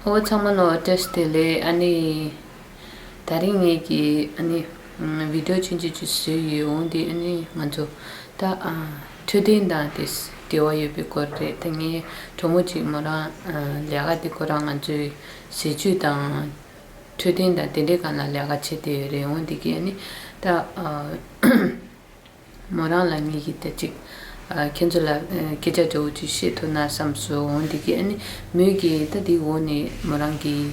ཨོ་ཚང་མ་ལོ་ཏེས་དེ་ལས་ཨ་ནི་ད་རིང་ངེད་ཀྱི་ཨ་ནི་བི་དོ་ཆེན་ཆེ་ཆེ་ཟོས་ཡོད་འོང་དེ་ཨ་ནི་ང་ཚོ་ད་འཕྲོད་བསྟེན་དང་དེས་འབྲེལ་བ་ཡོད་པའི་སྐོར་རེད་ད་ངའི་གྲོགས་མོ་གཅིག་མོ་རང་ལས་ཀ་དེ་ཁོ་རང་ང་ཚོའི་ཟས་བཅུད་དང་འཕྲོད་བསྟེན་དང་དེ་འདྲའི་གང་ལ་ལས་ཀ་བྱེད་དེ་ཡོད་རེད་འོང་དེ་གིས་ཨ་ནི་ད། མོ་རང་ལ་ངེད་ཀྱིས་ད་ཅིག། ཁྱེད་ཚོ་ལ་སྐད་ཆ་འདྲ་བོ་ཅིག་བཤད་ཐུབ་ན་བསམས་སོ། འོན་ཏེ་ཁྱེད་ནི་མོད་ཀྱི་ད་འདི་འོག་ནས་མོ་རང་གིས།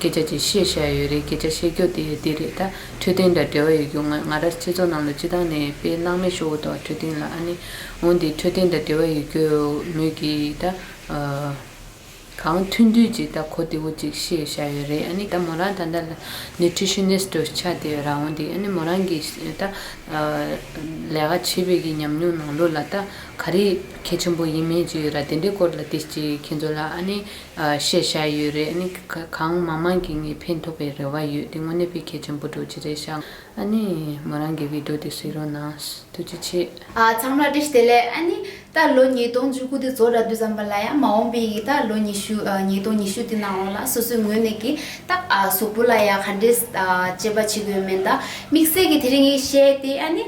སྐད་ཆ་ཅིག་བཤད་བཞག་ཡོད་རེད་སྐད་ཆ་བཤད་རྒྱུ་དེ་འདི་རེད་ད། འཕྲོད་བསྟེན་དང་འབྲེལ་བ་ཡོད་རྒྱུ་ངོས་ང་རར་ཁྱེད་ཚོ་རྣམས་ལ་སྤྱི་བཏང་ནས་དཔེ་སྣང་མེད་ཤོག་འུ་ཐོག་འཕྲོད་བསྟེན་ལ་ཨ་ནི། འོན་ཏེ་འཕྲོད་བསྟེན་དང་འབྲེལ་བ་ཡོད་རྒྱུ་མོད་ཀྱི་ད། གང་མཐུན་དུས་ཀྱི་ད་གོ་དེའུ་ཅིག་ཤེས་བྱ་ཡོད་རེད་ཨ་ནི་ད་མོ་རང་ད་ལྟ་ལ Nutritionist དུ་ཆགས་ཏེ་ཡོད་རང་འདུག་ཨ་ནི་མོ་རང་གིས་ད་ལས་ཀ་བྱེད་པའི་གི་ཉམས་མྱོང་ནང་ལོ་ལ་ད་ག་རེ་གལ་ཆེན་པོ་ཡིན་མིན་ཅིག་ཡོད་ར་དེ་འདྲའི་སྐོར་ལ་དེ་ཅིག་ཁྱེད་ཚོ་ལ་ཨ་ནི་ཤེས་བྱ་ཡོད་རེད་ཨ་ནི་གང་མང་མང་གིས་ངས་ཕན་ཐོགས་པའི་རེ་བ་ཡོད་དེ་དངོས་གནས་ཕན་གལ་ཆེན་པོ་འགྲོ་གི་རེད་ཤག། ཨ་ནི། མོ་རང་གི་བིད་དོ་དེ་བཟོས་རོགས་གནང། ཐུགས་རྗེ་ཆེ། ཚང་མར་བཀྲིས་བདེ་ལེགས་ཨ་ནི། ད་ལོ་ཉིས་སྟོང་བཅུ་དགུ་དེ་ཚོ་ར་འདུ་ཙམ་པ་ལ་ཡང་མ་འོངས་པའི་ཡི་ད་ལོ་ཉི་ཤུ་ཉིས་སྟོང་ཉི་ཤུ་དེ་ནང་ལོགས་ལ་སོ་སོའི་ངོས་ནས་ཀྱི་ད་གཟུགས་པོ་ལ་ཡང་ག་འདྲས་དཔྱད་པ་བྱེད་དགོས་མེད་ད་དམིགས་བསལ་གྱི་དེ་རིང་གི་ཤེས་དེ་ཨ་ནི།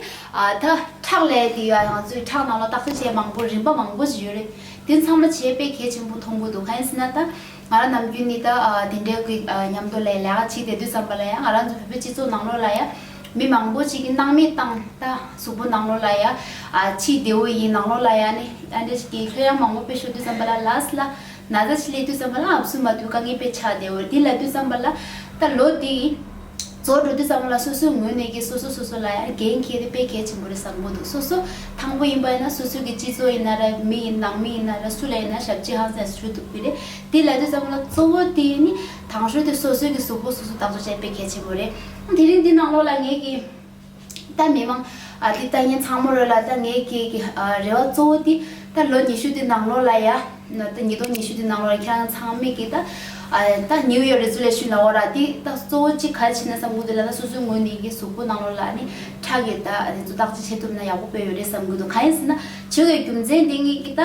ད་ཁྲག་ལས་དེ་ཡོད་ང་ཚོའི་ཁྲག་ནང་ལོགས་རྟགས་བསལ་བྱེད་མང་པོ་རིམ་པ་མང་པོ་ཞིག་ཡོད་རེད་དེ་ཚང་མ་བྱེད་པའི་གལ་ཆེན་པོ་མཐོང་གི་འདུག་ག་ཡིན་ཟེར་ན་ད། ང་རང་ནམ་རྒྱུན་ནི་ད་དེ་འདྲའི་གི་མཉམ་དུ་ལས་ལས་ཀ་བྱེད་བསྡད་དུས་ཙམ་པ་ལ་ཡང་ང་རང་ཚོ་བོད་པའི་སྤྱི་ཚོགས་ནང་ལོགས་ལ་ཡ་མི་མང་པོ་ཅིག་གི་སྣང་མེད་བཏང་ད་གཟུགས་པོ་ནང་ལོགས་ལ་ཡ་ཕྱིའི་བདེ་བོ་ཡིན་ནང་ལོགས་ལ་ཡ་ནི་ཨ་འདྲ་ཅིག་གི་ལྷོད་ཡང་མང་པོ་སྤེལ་ཤོག་དུས་ཙམ་པ་ལ་ལས་ལ་ན་བཟའ་ཆེ་ལས་དུས་ཙམ་པ་ལ་ཨབ་སུ་མ་ཐུག་དཀའ་ངལ་པས་ཆགས་བསྡད་འོད་དེ་ལ་དུས་ཙམ་པ་ལ་ད་ལོ་དེ། ཚོགས་འདུ་འདི་ཙམ་པོ་ལ་སོ་སོའི་ངོས་ནས་ཀྱི་སོ་སོ་སོ་སོ་ལ་ཡང་འགན་ཁྱེར་ཏེ་སྤེལ་གལ་ཆེན་པོ་རེད་བསམ་གོ་འདུག་སོ་སོ་དང་པོ་ཡིན་པ་ཡིན་ན་སོ་སོའི་གི་སྤྱི་ཚོགས་ཡིན་ན་ར་མི་ཡིན་ནང་མི་ཡིན་ན་ར་སུ་ལ་ཡིན་ན་ཞབས་ཕྱི་ཧང་སངས་སུ་ཞུ་འདུག་པི་རེད་དེ་ལ་དེ་ཙམ་པོ་ལ་གཙོ་བོ་དེ་ནི་དང་ཧྲོལ་དེ་སོ་སོའི་གི་གཟུགས་པོ་སོ་སོ་ལྟ་ཚོ་བྱས་པས་གལ་ཆེན་པོ་རེད་དེ་རིང་འདི་ནང་ལོགས་ལ་ངས་གི། ད་མི་མང། འདི་ལྟ་ངན་ཚང་མོ་རོལ་ལ་ད་ངའི་སྐྱེས་ཀྱི་རེ་བ་གཙོ་བོ་དེ་ད་ལོ་ཉི་ཤུ་དེ་ནང་ལོགས་ལ་ཡ། ད་ཉིས་སྟོང་ཉི་ཤུ་དེ་ནང་ལོགས་ལ་ཁྱེད་རང་ཚང་མིག་གིས་ད། ད་ནིའུ་ཡོག་རེ་ཚུ་ལས་ཤུན་ལ་འོ་ར་དེ་ད་གཙོ་བོ་གཅིག་ག་རེ་བྱེད་ན་བསམ་གི་འདུག་ལ་ད་སོ་སོའི་ངོས་ནས་ཡིན་གཟུགས་པོ་ནང་ལོགས་ལ་ནི་ཁྲག་གིས་ད་དེ་ཚོ་བརྟག་དཔྱད་བྱེད་ཐུབ་ན་ཡག་པོ་དཔེ་ཡོད་རེད་བསམ་གི་འདུག་གང་ཡིན་ཟེར་ན་བྱེད་དགོས་རྒྱུ་མཚན་དེ་ངེད་ཀྱི་ད།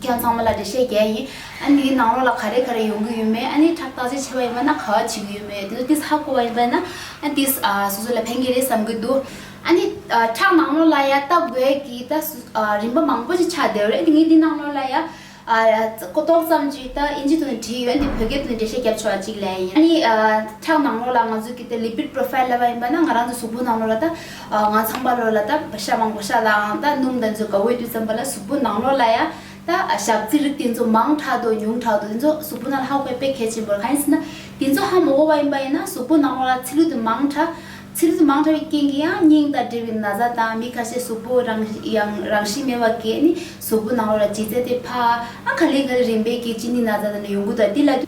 ཁྱོད་ཚང་མ་ལ་འགྲེལ་བཤད་རྒྱག་ཡིན། ཨ་ནི་ནང་ལོགས་ལ་ག་རེ་ག་རེ་ཡོང་གི་ཡོད་མེད་ཨ་ནི་ཁྲག་རྟགས་ཅན་ཆེ་བ་ཡིན་པ་ན་ག་བ་བྱེད་ཀྱི་ཡོད་མེད་དེ་ལ་ཏིས་ཧ་གོ་བ་ཡིན་པ་ན་ཨ་ཏིས་སོ་སོ་ལ་ཕན་གྱི་རེད་བསམ་གྱི་འདུག་ཨ་ནི་ཁྲག་ནང་ལོགས་ལ་ཡ་ལྟ་དགོས་ཀྱི་ད་རིན་པ་མང་པོ་ཅིག་ཆགས་བསྡད་རེད་དེ་ངས་འདི་ནང་ལོགས་ལ་ཡ་ཀོ་ཏོག་ཙམ་ཅིག་ད་ཨིན་ཇི་དོན་ནས་བྲིས་ཡོད་འདི་བོད་སྐད་དུ་འགྲེལ་བཤད་བརྒྱབ་ཆོག་པ་ཅིག་ལས་ཡིན་ཨ་ནི་ཁྲག་ནང་ལོགས་ལ་ང་ཚོ་གི་ད་ལིབིད་པྲོ་ཕཱིལ་ལ་བ་ཡིན་པ་ན་ང་རང་ཚོ་གཟུགས་པོ་ནང་ལོགས་ལ་ད། ང་ཚང་པ་ལོ་ལ་ད་བ་ཤ་མང་པོ་ཤ་ལའང་ད་སྣུམ་ད་མཛོད་ག་འོས་དུས་ཙམ་པ་ལ་གཟུགས་པོ་ནང་ལོ་ལ་ཡ་ད་ཞག་རྩི་རིགས་དེ་ཚོ་མང་དྲག་དོ་ཉུང་དྲག་དོ་དེ་ཚོ་གཟུགས་པོ་ནང་ལ་ཧ་གོ་བའི་དཔེ་གལ་ཆེན་པོ་རེད་གང་ཡིན་ཟེར་ན་དེ་ཚོ་ཧ་མོ་གོ་བ་ཡིན་པ་ཡིན་ན་གཟུགས་པོ་ནང་ལོ་ལ་ཚི་ལུ་དེ་མང་དྲག་ཚི་ལུ་དེ་མང་དྲག་བའི་རྐྱེན་གྱིས་ཡང་སྙིང་དང་འབྲེལ་བའི་ན་བཟའ་དང་མི་ཁ་ཤས་གཟུགས་པོ་རང་ཡང་རང་བཞིན་མེད་པ་གས་ནི་གཟུགས་པོ་ནང་ལོ་ལ་ལྗིད་ཚད་དེ་ཕ་ཨ་ག་ལེ་ག་ལེ་རིམ་པས་གས་ཅི་ནི་ན་བཟའ་དང་ནི་ཡོང་གུ་དང་དེ་ལ།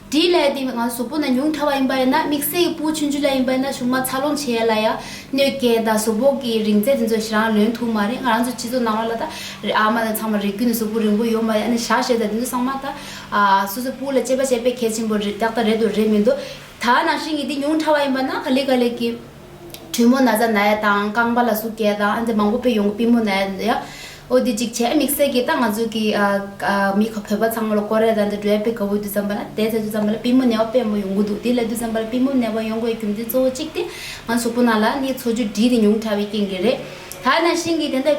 དྲིའི་ལས་འདི་ང་ཚོ་བཟོ་པོ་ན་ཉུང་མཐའ་བ་ཡིན་པ་ཡིན་ན་དམིགས་བསལ་གྱི་པུའུ་ཆུན་ཆུན་ལ་ཡིན་པ་ཡིན་ན་ཆུང་མ་འཚར་ལོངས་བྱེད་ཡ་ལ་ཡ་གནོད་སྐྱེལ་དང་བཟོ་བོ་གི་རིང་ཚད་དེ་ཚོ་རང་ལོན་ཐུབ་མ་རེད་ང་རང་ཚོ་སྤྱི་ཚོགས་ནང་བ་ལ་ད་རེ་ཨ་མ་དང་ཚང་མ་རེ་གུས་ནས་བཟོ་བོ་རིང་བོ་ཡོད་མ་ཡ་ནས་བཞག་བཞེས་དང་དེ་ཚོ་ཚང་མ་ད་སོ་སོའི་པུའུ་ལ་དཔྱད་པ་བྱས་པས་གལ་ཆེན་པོ་རེད་ཏག་ཏག་རེད་དོ་རེད་མི་འདུག་ད་ནང་བཞིན་གྱི་འདི་ཉུང་མཐའ་བ་ཡིན་པ་ན་ག་ལེ་ག་ལེ་གི། དྲོན་མོ་ན་བཟའ་ན་ཡ་དང་རྐང་པ་ལ་གཟུགས་སྐྱེས་དང་ཨ་འདི་མང་པོ་པོ་ཡོང་གི་པི་མོ་ན་ཡ་ཡ། ཨོ་འདི་ཅིག་བྱས་དམིགས་བསལ་གྱིས་ད་ང་ཚོ་གི་མི་ཁ་བོད་པ་ཚང་མ་ལ་ཀོ་རེ་ར་འདི་འགྲོས་པའི་ག་བུ་དུས་ཙམ་པ་ན་དེ་ཚེ་དུས་ཙམ་པ་ལ་པི་མོ་ནད་བ་དཔེ་མོ་ཡོང་གི་འདུག་དེ་ལ་དུས་ཙམ་པ་ལ་པི་མོ་ནད་བ་ཡོང་དགོས་རྒྱུ་མཚན་གཙོ་བོ་གཅིག་དེ་ང་གཟུགས་པོ་ན་ལ་ནི་འཚོ་བཅུད་བྲིས་ཏེ་ཉུང་དྲ་བའི་རྐྱེན་གྱིས་རེད། ད་ན་ཤིང་གིས་དེ་འདྲ།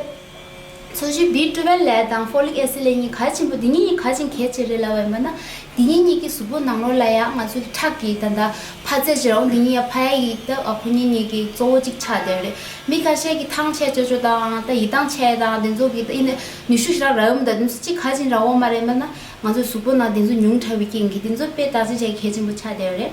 མཚོ་བཞི་བི་ཏྲུ་བན་ལའེ་དང་ཧྥོ་ལིག་ཨེ་སི་ལའེ་གཉིས་ག་ཆེན་པོ་འདི་གཉིས་གཉིས་ག་ཆེན་གལ་ཆེ་རེད་ལབ་བས་མོད་ན་འདི་གཉིས་གཉིས་ཀྱི་གཟུགས་པོ་ནང་ལོགས་ལ་ཡང་ང་ཚོ་ལི་ཁྲག་གི་ད་ད་ཕ་རྩེ་བྱེད་རོང་འདི་གཉིས་ཡ་ཕ་ཡ་ཡིག་ད་ཨ་ཁོ་གཉིས་གཉིས་ཀྱི་གཙོ་བོ་གཅིག་ཆགས་བསྡད་རེད་མི་ཁ་ཤས་ཀྱི་ཐང་ཆད་ཅོ་ཅོ་དང་ད་ཡི་ཐང་ཆད་དང་དེ་ཚོ་གི་ད་ཨི་ནི་ནུས་ཤུགས་ཞེ་རག་རག་ཡོང་ད་དེ་ཚོ་གཅིག་ག་ཆེན་རག་འོང་མ་རེད་མོད་ན་ང་ཚོ་གཟུགས་པོ་ནང་དེ་ཚོ་ཉུང་དྲགས་བའི་རྐྱེན་གྱིས་དེ་ཚོ་དཔེ་དག་ཆེན་ཆེ་གལ་ཆེན་པོ་ཆགས་བསྡད་རེད།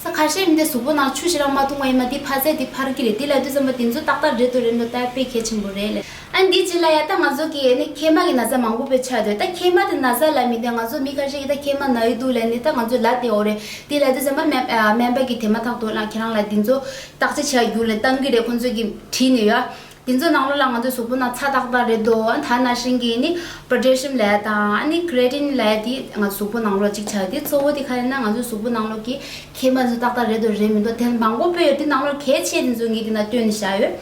ས་ཁ་ཤས་མི་དེ་གཟུགས་པོ་ནང་ཆུ་ཤི་རང་མ་འཐུང་བ་ཡིན་མ་འདི་ཕར་ཟད་འདི་ཕར་གྱི་རེད་འདི་ལ་བསྡུས་ཙམ་པ་དེ་ཚོ་ཏག་ཏག་འདྲེ་དོ་རེད་འགྲོ་སྟབས་དཔེ་གལ་ཆེན་པོ་རེད་ལས། ཨ་འདི་ཅི་ལ་ཡ་ད་ང་ཚོ་གི་ནི་ཁལ་མ་གི་ན་བཟའ་མང་པོ་པོ་ཆགས་འདོད་ད་ཁལ་མ་དེ་ན་བཟའ་ལ་མི་འདོད་ང་ཚོ་མི་ཁ་ཤས་ཀྱི་ད་ཁལ་མ་ན་ཡོད་འདུག་ལས་ནི་ད་ང་ཚོ་ལ་དེ་འོ་རེད་འདི་ལ་བསྡུས་ཙམ་པ་སྨན་པ་གི་དེ་མ་ཐག་དོན་ལ་ཁྱེད་རང་ལ་འདི་ཚོ་བརྟག་དཔྱད་བྱས་ཡོད་ལས་གཏང་གི་རེད་ཁོ་ཚོ་གི་བྲིས་ནས་ཡོད་ཨ། དེ་ཚོའི་ནང་ལོ་ལ་ང་ཚོའི་གཟུགས་པོ་ན་ཚ་དག་དག་རེད་འདུག་ད་ན་ཧྲེང་གིས་ནི Potassium ལས་དང་ནི Creatine ལས་དེ་ང་ཚོའི་གཟུགས་པོ་ནང་ལོ་གཅིག་ཆགས་དེ་གཙོ་བོ་དེ་ག་རེ་ན་ང་ཚོའི་གཟུགས་པོ་ནང་ལོ་གི་ཁེ་འབའ་ཚོ་དག་དག་རེད་འདུག་རེད་མི་འདུག་དེ་མང་པོ་པོ་ཡོད་དེ་ནང་ལོ་གལ་ཆེ་དེ་ཚོ་ངས་དེ་ན་བཏོན་ནས་བཞག་ཡོད།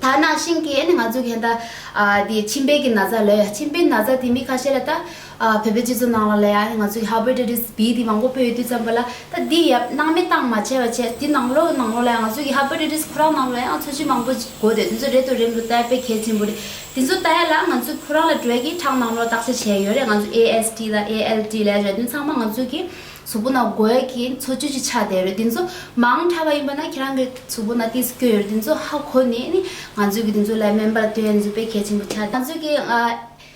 ད་ན་ཧྲེང་གིས་ནི་ང་ཚོའི་གན་ད་ཨ་དེ་མཆིན་པའི་གི་ན་ཚ་ལོས་མཆིན་པའི་ན་ཚ་དེ་མི་ཁ་ཤས་ལ་ད་བོད་པའི་སྤྱི་ཚོགས་ནང་ལ་ལ་ཡང་ང་ཚོའི་ཧྭ་བོད་ཀྲི་ཀྲིས་བི་དེ་མང་པོ་སྤོས་ཡོད་དུས་བརྩམས་པ་ལ་ད་འདི་ཡབ་སྣང་མེད་སྟངས་མ་བྱས་པ་བྱས་དེ་ནང་ལོག་ནང་ལོག་ལ་ཡང་ང་ཚོའི་ཧྭ་བོད་ཀྲི་ཀྲིས་ཁོ་རང་ནང་ལོག་ལ་ཡང་འཚོ་བྱེད་མང་པོ་དགོས་འདོད་དེ་ཚོ་རེད་དོ་རེད་མི་འདུག་ལྟ་དཔེ་གལ་ཆེན་པོ་རེད་དེ་ཚོ་ལྟ་ཡ་ལ་ང་ཚོའི་ཁོ་རང་ལ་འགྲོས་ཀྱིས་དྲང་ནང་ལོག་བརྟག་དཔྱད་བྱས་ཡོད་རེད་ང་ཚོའི ASD ལ ALD ལས་རེད་དོན་ཚང་མ་ང་ཚོའི་གི་གཟུགས་པོ་ན་དགོས་གི་འཚོ་བྱེད་ཀྱི་ཆ་དེ་རེད་དེ་ཚོ་མང་དྲགས་པ་ཡིན་པ་ན་ཁྱེད་རང་གི་གཟུགས་པོ་ན་ཏིས་སྐྱོ་ཡོད་རེད་དེ་ཚོ་ཧྭ་གོ་ནས་ནི་ང་ཚོའི་གི་དེ་ཚོ་ལ་སྨན་པ་ལ་དོན་ཡོད་དེ་ཚོ་དཔེ་གལ་ཆེན་པོ་ཆ་དེ་ཚོ་ང་ཚོའི་གི་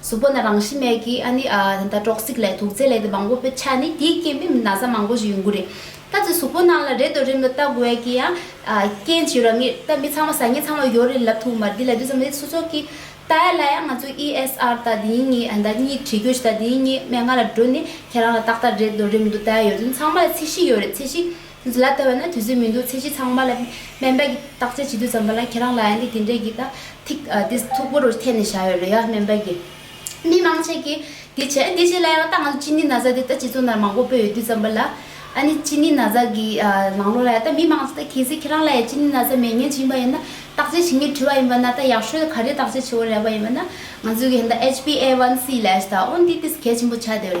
གཟུགས་པོ་ན་རང་བཞིན་མེད་ཀྱི་ཨ་ནི་ཨ། ད་ལྟ་གྲོགས་གཟིགས་ལས་དུག་རྫས་ལས་དེ་མང་པོ་པོའི་ཆ་ནི་དེའི་རྐྱེན་པས་མི་ན་བཟའ་མང་པོ་ཞིག་ཡོང་གི་རེད། ད་ཚེ་གཟུགས་པོ་ནང་ལ་རེད་དོ་རིམ་ལ་བལྟ་དགོས་ཀྱི་ཡང། རྐྱེན་ཇི་རང་ངེས་ད་མི་ཚང་མ་བཟའ་ཉེ་ཚང་མ་ཡོད་རེད་ལབ་ཐུག་མར་འདི་ལ་བསྡུས་ཙམ་ནི་སུ་ཚོགས་ཀྱི། ད་ཡ་ལ་ཡ་ང་ཚོ ESR ད་འདི་ཡིན་ངེས་ད་གཉིས་བྲིས་དགོས་ཞེ་ད་འདི་ཡིན་ངེས་མན་ངག་ལ་འགྲོ་ནི་ཁྱེད་རང་ལ་ཏག་ཏག་རེད་དོ་རིམ་དུ་ད་ཡ་ཡོད་ཚུལ་ཚང་མ་ལ་ཚད་གཞི་ཡོད་རེད་ཚད་གཞི། འདི་ལ་ལྟ་བས་ན་དུས་ཚོད་མི་འདུག་ཚེ་གཅིག་ཚང་མ་ལ་སྨན་པས་བརྟག་དཔྱད་བྱེད་དུས་ཙམ་པ་ལ་ཁྱེད་རང་ལ་ཡང་ནི་དེ་འདྲས་ཀྱི་དང་ཐིག་དེ་མཐུག་པོ་རུ་འཐེན་ནས་བཞག་ཡོད་རེད་ཡ་སྨན་པས་ཀྱི། མི་མང་ཅིག་གིས་འདི་བྱས་འདི་བྱས་ལ་ཡང་ལྟ་ང་ཚོ་ཅི་ནི་ན་བཟའ་དེ་ལྟ་སྤྱི་ཚོགས་ནང་མང་པོ་སྤོས་ཡོད་དུས་ཙམ་པ་ལ། ཨ་ནི་ཅི་ནི་ན་བཟའ་གི་ལང་ལོ་ལ་ཡང་ལྟ་མི་མང་ཅིག་ལྟ་གལ་སྲིད་ཁྱེད་རང་ལ་ཡང་ཅི་ནི་ན་བཟའ་མེད་ངན་བྱིན་པ་ཡིན་ན་བརྟག་དཔྱད་བྱེད་ངེས་བྲི་བ་ཡིན་པ་ན་ད་ཡག་ཤོས་ག་རེ་བརྟག་དཔྱད་བྱེད་འོ་རེད་པ་ཡིན་པ་ན་ང་ཚོས་ཀྱི་ད HBA1C ལས་ད་འོ་འདི་དེ་གལ་ཆེན་པོ་ཆགས་དེ།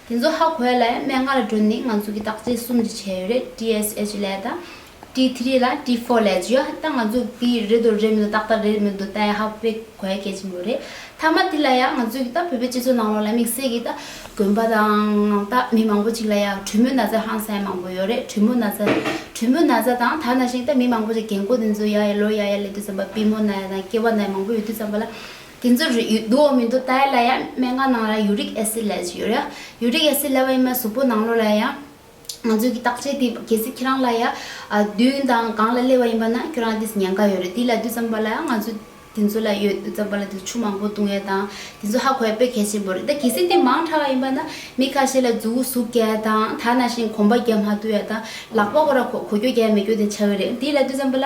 དེ་ཚོ་ཧ་གོ་ཡ་ལ་མན་ང་ལ་འགྲོ་ནི་ང་ཚོ་གི་དག་ཆའི་གསུམ་དུ་བྱས་ཡོད་རེད TSH ལས་དང T three ལ T four ལས་ཇི་ཡོད་ཧ་ད་ང་ཚོ་གི་རེད་དོ་རེད་མི་དོ་ཏག་ཏག་རེད་མི་དོ་ད་ཡ་ཧ་བེ་གོ་ཡ་གལ་ཆེན་པོ་རེད་ཐ་མ་དེ་ལ་ཡ་ང་ཚོ་གི་ད་བོད་པའི་སྤྱི་ཚོགས་ནང་ལོག་ལ་དམིགས་བསལ་གི་ད་དགོན་པ་དང་ད་མི་མང་པོ་ཅིག་ལ་ཡ་གྲུ་མོ་ན་ཚ་ཧང་སངས་མང་པོ་ཡོད་རེད་གྲུ་མོ་ན་ཚ་གྲུ་མོ་ན་ཚ་དང་ད་ན་ཞིང་ད་མི་མང་པོ་ཅིག་རྒན་གོ་དེ་ཚོ་ཡ་ཡ་ལོ་ཡ་ཡ་ལེ་དུས་ཙམ་པ་པི་མོ་ན་ཡ་དང་སྐྱེ་བ་ན་ཡ་མང་པོ་ཡོད་དུས་ཙམ་པ་ལ་དེ་ཚོར་རེག་ཡུལ་འདུག་འོག་མིན་དུ་དྭ་ཡ་ལ་ཡང་སྨན་ཁང་ནང་ལ་ཡུ་རིག་ཨེ་སི་ལས་ཡོད་རེད། ཡུ་རིག་ཨེ་སི་ལས་བ་ཡིན་མ་གཟུགས་པོ་ནང་ལོགས་ལ་ཡང། ང་ཚོས་ཀྱི་བརྟག་དཔྱད་དེ་གལ་སྲིད་ཁྱེད་རང་ལ་ཡ། བདུན་དང་གང་ལ་སླེ་བ་ཡིན་པ་ན་ཁྱོད་རང་དེ་སི་ཉན་ཀ་ཡོད་རེད་དེ་ལ་དུས་ཙམ་པ་ལ་ཡང་ང་ཚོ་དེ་ཚོ་ལ་ཡོད་དུས་ཙམ་པ་ལ་དེ་ཚོ་ཆུ་མང་པོ་བཏུང་ཡས་དང་དེ་ཚོ་ཧ་གོ་ཡས་དཔེ་གལ་ཆེན་པོ་རེད་ད་གལ་སྲིད་དེ་མང་ཕྲ་བ་ཡིན་པ་ན་མི་ཁ་ཤས་ལ་རྫུ་བོ་ཟུག་རྒྱ་ཡས་དང་དྭ་ན་བཞིན་གོམ་པ་རྒྱ་མ་དུ་ཡས་དང་ལག་པ་གོ་ར་གོ་གོ་རྒྱོ་རྒྱ་ཡས་མི་རྒྱོ་དེ་ཆ་བོད་རེད་དེ་ལ་དུས་ཙམ་པ་ལ་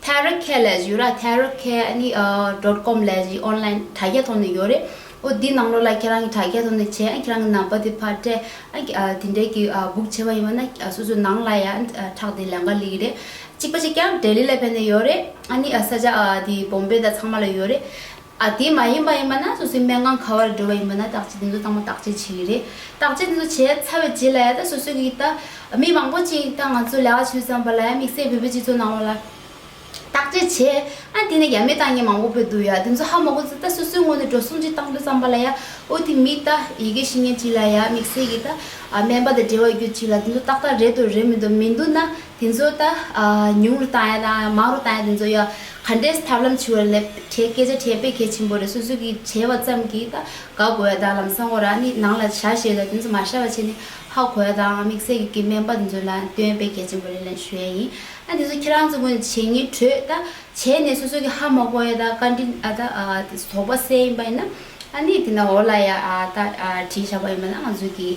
ཐའེ་རོས་ཁལ་ལས་གཞི་ཡོད་ར་ཐའེ་རོས་ཁལ་ནི dot com ལས་གཞི online དྲ་རྒྱ་ཐོག་ནས་ཡོད་རེད་འོ་དེའི་ནང་ལོགས་ལ་ཁྱེད་རང་གི་དྲ་རྒྱ་ཐོག་ནས་བྱས་ཁྱེད་རང་གི་ནམ་པ་དེ་ཕར་སྤྲད་དེ་འདྲས་ཀྱི book བྱས་པ་ཡིན་པ་ན་སོ་སོའི་ནང་ལ་ཡང་ཁྲག་དེ་ལན་འགའ་ལེགས་རེད་གཅིག་པ་ཅིག་ཀྱང Delhi ལས་ཕེབས་ནས་ཡོད་རེད་ཨ་ནི་ས་ཆ་དེ Bombay དང་ཚང་མ་ལ་ཡོད་རེད། ཨ་དེ་མ་ཡིན་པ་ཡིན་པ་ན་སོ་སོའི་མན་ངག་ག་བར་འགྲོ་བ་ཡིན་པ་ན་བརྟག་དཔྱད་འདི་ཚོ་ཚང་མ་བརྟག་དཔྱད་བྱེད་ཀྱི་རེད་བརྟག་དཔྱད་འདི་ཚོ་བྱས་ཚར་བའི་རྗེས་ལ་ཡང་ད་སོ་སོ་གིས་ད་མི་མང་པོ་གཅིག་ད་ང་ཚོ་ལས་ཀ་བྱོས་བསམ་པ་ལ་ཡང་དམིགས་བསལ་བོད་པའི་སྤྱི་ཚོགས་ནང་བ་ལ་བརྟག་དཔྱད་བྱས་ཨ་དེ་ནས་ཡ་མེད་ཏང་ངེ་མང་པོ་བོད་དུ་ཡ་དེ་ཚོ་ཧ་མ་གོ་ཚོ་ད་སོ་སོའི་ངོ་ནས་འགྲོ་སོང་གཅིག་བཏང་འགྲོ་བསམ་པ་ལ་ཡ་ཨོ་དེ་མི་ད་ཡི་གེ་ཤེས་མཁན་གཅིག་ལ་ཡ་དམིགས་བསལ་གྱིས་ད་སྨན་པ་དང་འབྲེལ་བ་ཡོད་གཅིག་ལ་དེ་ཚོ་ཏག་ཏག་རེད་འདུག་རེད་མི་འདུག་མི་འདུག་ན། དེ་ཚོ་ད་ཉུང་རུ་བཏང་ཡ་དང་མང་རུ་བཏང་ཡ་དེ་ཚོ་ཡང་ག་འདྲས་ཐབས་ལམ་བྱུ་བ་ལས་བྲེལ་སྐད་ཆ་བྲེལ་དཔེ་གལ་ཆེན་པོ་རེད་སོ་སོ་གིས་བྲེལ་བ་ཙམ་གྱིས་ད་དགའ་དགོས་ཡ་དང་ལམ་སང་གོ་རང་ནི་ནང་ལ་བཞག་ཤེས་ལ་དེ་ཚོ་མ་ཤར་བ་བྱས་ནས་ཧ་གོ་ཡ་དང་དམིགས་བསལ་གྱི་གི་སྨན་པ་དེ་ཚོ་ལ་སྟོན་དཔེ་གལ་ཆེན་པོ་རེད་ལན་ཞུ་ཡ་ཡིན་ཨ་དེ་ཚོ་ཁྱེད་རང་ཚོ་གོན་བྱེད་ངན་བྲོས་ད་བྱས་ནས་སོ་སོ་གིས་ཧ་མ་གོ་ཡ་དང་བཀའ་དྲིན་ཨ་ད་དེ་ཚོ་དོགས་པ་བསལ་ཡིན་པ་ཡིན་ན་ཨ་ནི་དེ་ན་འོ་ལ་ཡ་ད་བྲིས་བཞག་པ་ཡིན་པ་ན་ང་ཚོ་གིས